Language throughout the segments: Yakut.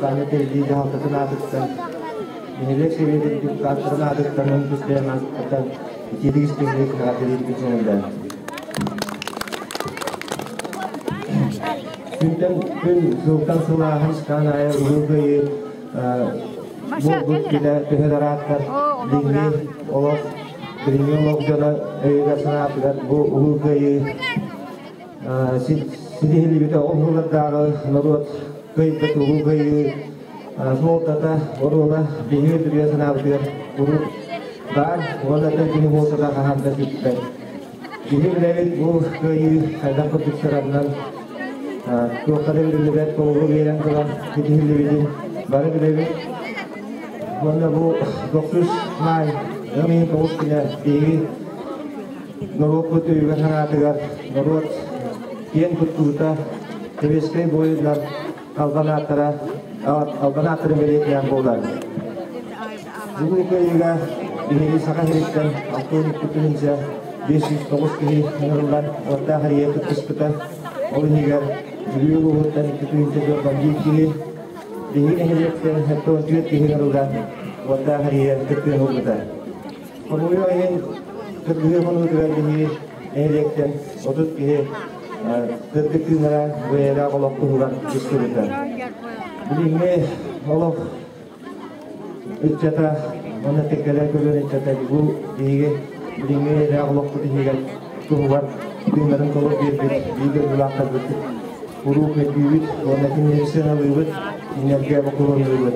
Таня Тэрдии дьаһалтатын аатыттан нэһилиэк сэбиэт үрдүк тааттарын аатыттан он үс бэйэн ааттатан итиитик истиҥник наҕараадалыырбыт дьиҥэлдээн. Күнтэн күн сылтан сыл ааһан саан аайы Улуу Кыайыы булбут килэ төһө дарааттар билиҥҥи олох билиҥҥи олох дьоно өйүгэр санаатыгар бу Улуу Кыайыы ситиһиллибитэ ол сыллардааҕы норуот кыайда туруу кыайыы суолтата оруола биһиги үрүйэ санаабытыгар урут баар уонна да кини буолсата хаһан да сүппэт. Киһи билэбит бу кыайыы хайдах курдук сараннан туохтара биллибэт толору биэрэн туран ситиһиллибитин бары билэбит. Уонна бу 9 маай 2009 күнэ биһиги Норуоппут өйүгэр-санаатыгар норуот киэн туттуута, сэбиэскэй буойуннар албан ааттара албан ааттарын бэлиэтинэн буолар. Бүгүнүкү ыйга биһиги Саха сириттэн алтын күтүнүнчэ бес жүз тоҕус киһи ыҥырыллан уоттаах эрийэ кыттыспыта. Ол иһигэр Бүлүү улууһуттан икки күнтэ дьорҕон биир киһи, биһиги нэһилиэктэн тоҕус киһи ыҥырыллан уоттаах эрийэ кыттыан ылбыта. Хомуйу айан кыргыһыы хонугу түһэргиһии нэһилиэктэн отут киһи кырдык тыынара бэйэлээх олох туһугар дьиктиритэ. Билиҥҥи олох ыччата манна теккэлэр көлүөн ыччата бу биһиги билиҥҥи эйэлээх олохпут иһигэр туһугар тыыннарын толук биэрбит биир дойдулаахтарбыт куруук өтүүбүт уонна кинилэри сыаналыыбыт, кинилэргэ бокулуннуубут.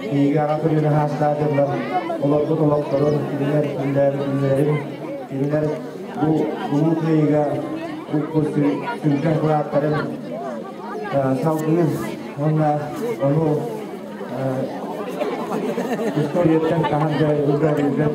Киһигэҕэ күнүн аһаастаатылар, олорбут олохторун билэр, билэрин, билэр бу улуу кыайыга бу сүҥкэн кылааттарын салгыныс уонна ону историяттан хаһан да үлгэрилбэт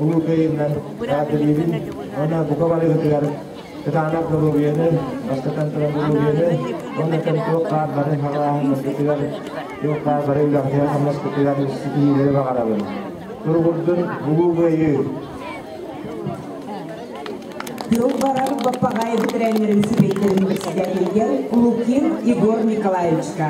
улуукайынан каадырыыбын уонна бука барыгытыгар кытаанах доруобуйаны, бастатан турар доруобуйаны уонна кэмтуох хаар бары халааһыннаспытыгар, туох хаар бары үлэҕитигэр хамнаспытыгар ситиһиилэри баҕарабын. Туругурдун Улуу Кыайыы! Тыыл барар Баппаҕай бэтэрээннэрин сүбэтин председателгэ Лукин Егор Николаевичка,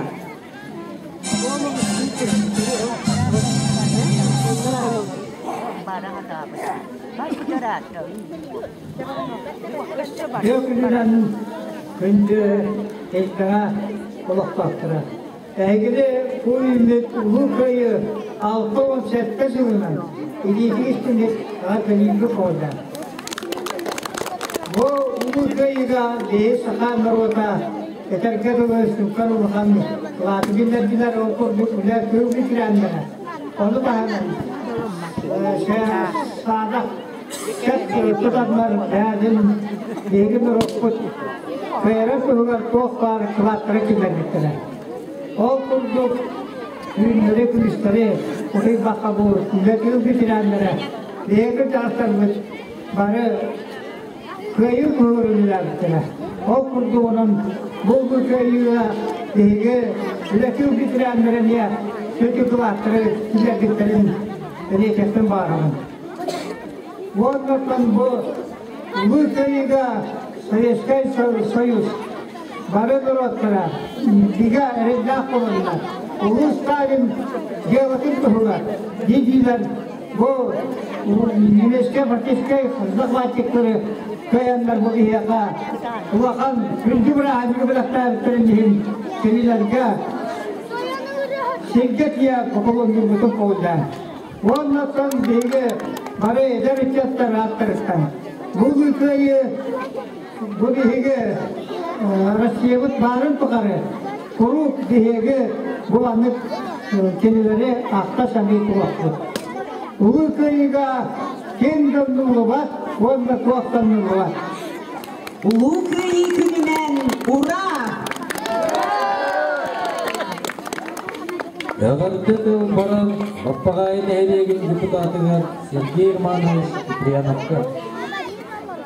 Күндү эйкаҕа олохтоохторо, эһигини бу үүммүт Улуу Кыайы алта уон сэттэ сылынан илиитигis түмүк аҕа кэлиигэ куолда. Бу Улуу Кыайыга биһи саха норуота Этэргэ дылы, сууккар улахан платы биллэрдилэр ол курдук үлэ кыылы кирээннэрэ. Ону таһынан саадах кэт тутаннар бээтин биһиги нурукпут кыйра туһугар туох баар кылаттары киллэрбиттэрэ. Ол курдук үүннэри күүстэри утуйбакка бу үлэ кыыл кирээннэрэ биһиги тахсарбыт бары Кыайыы туругар үлэлээбиттэрэ. Ол курдугунан булгу кыайыыга биһиги үлэтин ветераннара эмиэ сүдү кылааттары киллэрбиттэрин риэчэттэн баарабын. Уоннаттан бу улуу кыайыыга Советскай Союз бары норуоттара бигэ эрэллээх буоланнар, улуу Сталин дьыалатын туһугар дии-диилэр Бу немецкай фактическай захватчиктары кыайаннар бу киһиэхэ улахан үрдүк бырааһынньыгы бэлэхтээбиттэрин иһин кинилэргэ сиргэ тиийэ пополонньурбутун көҕүллээн. Уоннаттан биһиги бары эдэр ыччаттар ааттарыттан бу кыайыы Бу биһиги Россиябыт баарын тухары куруук биһиги бу маннык кинилэри ахта-саныы туруохпут. Улуу Кыайыыга ким да умнуллубат уонна туох да умнуллубат. Улуу Кыайыы күнүнэн ура! Эҕэрдэ тыл баран Баппаҕайы нэһилиэгин депутатыгар Сергей Романович Упряновка.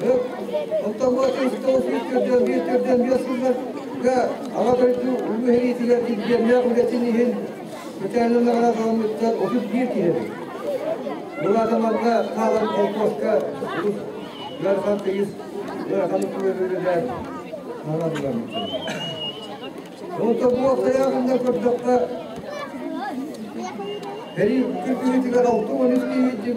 Оттомоотун столопуус көрдөөн биир көрдөөн биэс сылларга Аҕа дойду улуу сэриитигэр дивизионнаах үлэтин иһин мэтээлин наҕараадаламмыттар отут биир киһи Муладаманга хаалан холкуоска ыарахан тыйыс ыарахан үөрүүлэрэ наҕараадаламмыттар. Онто бу аптаяғында көрдөхпө Период быһыытыгар 6 13 киһи